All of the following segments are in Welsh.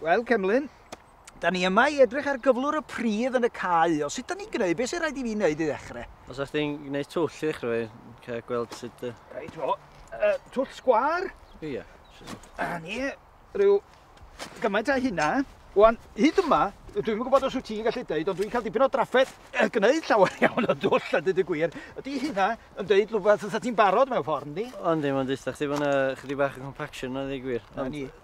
Wel, Cemlyn, da ni yma i edrych ar gyflwr y pridd yn y cae. O, sut da ni'n gwneud? Beth sy'n rhaid i fi wneud i ddechrau? Os ydych chi'n gwneud twll i ddechrau fe, cael gweld sut... Reit, o, uh, twll sgwar? Ie. Yeah. A ni, rhyw gymaint a hynna. Wan, hyd yma, dwi'n gwybod os wyt ti'n gallu dweud, ond dwi'n cael dipyn o drafferth yn gwneud llawer iawn o dwll a dweud y gwir. Ydy hynna yn dweud rhywbeth os ti'n barod mewn ffordd, ni? Ond dim ond ystach, ti bod yna chydig bach o compaction yna, ddi gwir. Ond, ni.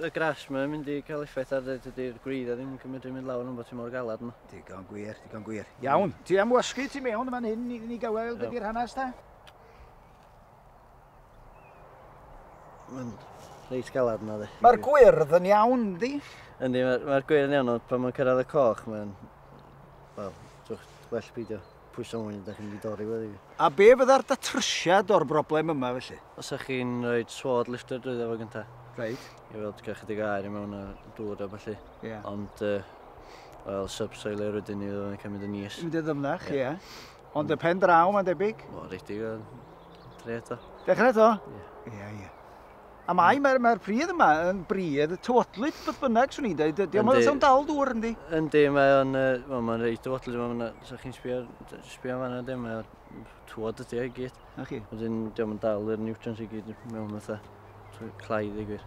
y grass mae'n mynd i cael effaith ar dy dydy'r gwreiddiau ddim yn cymryd mynd lawr ond bod ti mor galad yma. Digon gwir, digon gwir. Iawn, ti am wasgu ti mewn yma'n hyn i ni gael beth i'r hanes ta? Mae'n reit galad yna ddi. Mae'r gwyrdd yn iawn di? Yndi, mae'r mae gwyrdd yn iawn ond pan mae'n cyrraedd y coch mae'n... Wel, well beidio. Pwy sy'n mwyn ydych chi'n mynd i dorri fo i? A be fydda'r datrysiad o'r broblem yma felly? Os ydych chi'n rhoi sword lifter drwy ddefo gynta. Reit. I weld gael chydig air i mewn a dŵr a falle. Yeah. Ond uh, wel, subsoil er wedyn ni ddod yn cymryd y nis. Mynd i ddyfnach, ie. Yeah. Yeah. Ond y pen draw mae'n debyg? O, reidig o. Tre eto. Dechrau eto? Ie. Yeah. Ie, yeah, ie. Yeah. A mae, mae'r mae pridd yma yn bridd tywodlyd beth bynnag, swn i'n dweud. Diolch yn fawr, dal dŵr, yndi? Yndi, mae o'n, uh, mae'n reit tywodlyd yma fyna. Sa chi'n sbio, sbio fanna, dim, mae o'n tywod ydi o'i gyd. Na chi? Wedyn, diolch yn dal i'r nutrients i gyd mewn fatha clai ddigwydd.